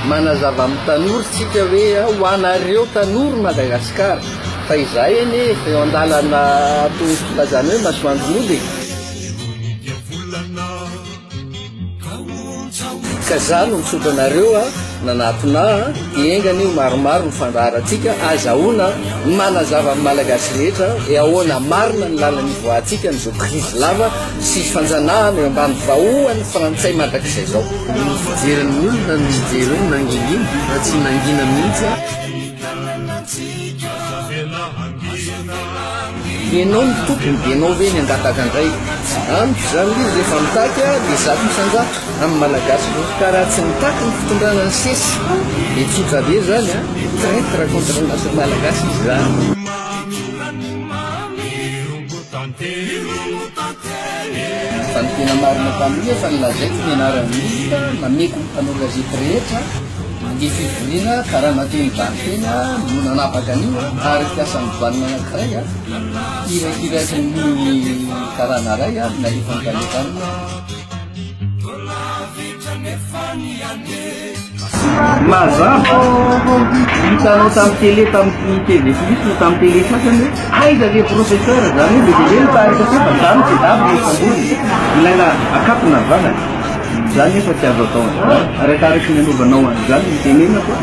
Manazava amin'ny tanora isika hoe ho anareo tanora Madagasikara fa izahay anie efa eo an-dalana toy ny filazana hoe masoandro mody e. Ka za no mitsotra anareo a, nanatona a, dia enga anie ho maromaro ny fandaharantsika, azahoana ny manazava amin'ny Malagasy rehetra hoe ahoana marina ny lalana ivoahantsika an'izao krizy lava sy fanjanahana eo ambany vahohan'ny frantsay mandrakizay zao. Ny fijerin'ny olona no mijery hoe nangingina fa tsy nangina mihitsy a. Ianao no tompony dia ianao ve ny hangataka indray? Amiko izany ilay izy rehefa mitaky aho dia zato isan-jato amin'ny Malagasy vovoka raha tsy mitaky ny fitondrana ny sesy dia tsotra be izany an! Traitre contre ny nation malagasy izy izany. Fa ny tena marina mpanohy efa nolazaiko ny anaran'ny ministra nameko ny mpanao gazety rehetra ny fivoriana karana teo Ivarotena no nanapaka an'io ary mpiasan'ny douane anankiray irakiraky ny karana iray ary nalefa ny karana taminy Mazava fa hitanao tamin'ny télé tamin'ny TV plus na tamin'ny télé sasany hoe aiza le professeur izany hoe lehibe ny tarika satria fa za no jadabo no samborina. Ilaina akatona ny vavany. Izany nefa tsy azo atao an'izany. Arakaraky ny anaovanao an'izany no itenenako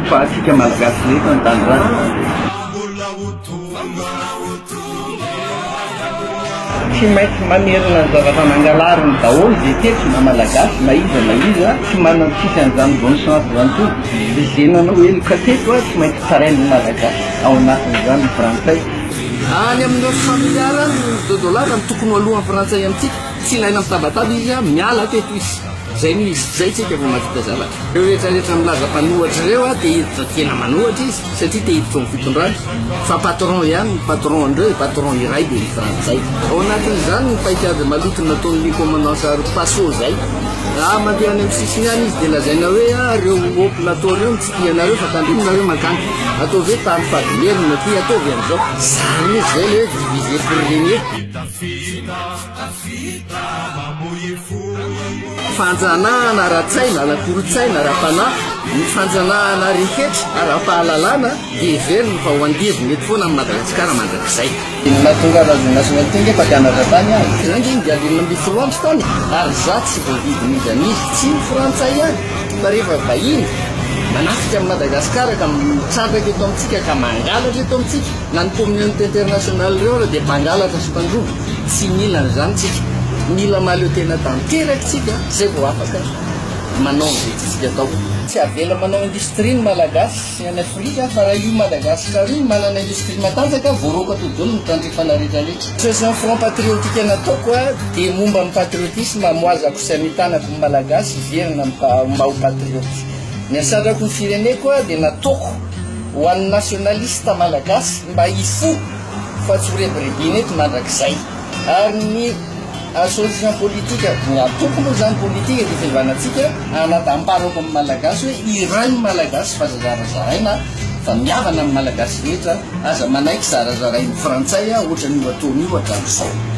fa antsika malagasy rehetra no tany rariny. Tsy maintsy mamerina ny zavatra nangalariny daholo izay tetsy na malagasy na iza na iza tsy manantsika an'izany bonne chance izany koa dia izay nanao heloka teto tsy maintsy tarain'ny malagasy ao anatin'izany ny frantsay. Any amin'ireo familiara any ny dodo lava no tokony ho alohan'ny frantsay amintsika, tsy ilaina mitabataba izy miala teto izy. Izay no izy, izay tsika vao mahavita zavatra. Ireo rehetra rehetra milaza mpanohatra ireo dia hiditra fa tena manohatra izy satria te hiditra ao amin'ny fitondrana. Fa patron ihany ny patron an'ireo dia patron iray dia ny frantsay. Ao anatin'izany ny paikady maloto nataon'ny commandant Sahary Paso izay. Raha mandeha any amin'ny sisiny any izy dia lazaina hoe ah ireo haut plateau ireo no tsy tia anareo fa tandremo nareo mankany. Ataovy hoe tany fadimierina aty, ataovy an'izao. Zany mihintsy izay ilay hoe diviser pour regner. Fanjanahana ara-tsaina, ara-kolontsaina, ara-panahy, ny fanjanahana rehetra ara-pahalalana dia heveriny fa ho andevo mety foana amin'i Madagasikara mandrakizay. Inona hahatonga anao izay nahasoa an'ity ange fa mpianatra tany aho. Izay ange ny dialin'ny ambifoloandro tany e! Ary izaho tsy voavidin'iza an'iza, tsy ny frantsay ihany fa rehefa vahiny manafika an'i Madagasikara ka mitrandraka eto amintsika ka mangalatra eto amintsika, na ny communauté internationale ireo ary dia mpangalatra sy mpandroba. Tsy mila an'izany tsika. Mila mahaleo tena tanteraka tsika zay vao afaka manao an'izay tiantsika atao. Tsy avela manao industrie ny Malagasy any Afrika fa raha io Madagascar io manana industrie matanjaka voaroako atody daholo ny tandrifana rehetra rehetra. Session front patriotique nataoko a dia momba ny patriotisme amoazako sy amitanako ny Malagasy hiverina mba ho patriote. Ny hasatrako ny fireneko a dia nataoko ho an'ny nationaliste Malagasy mba hifoha. fa tsy ho rebirebena eto mandrakizay ary ny association politique no antoko moa zany politique eto fivanantsika anadamparako amin'ny malagasy hoe iray ny malagasy fa zazarazaraina fa miavana amin'ny malagasy rehetra aza manaiky zarazarain'ny frantsay a ohatra ny ohatony io hatramin'izao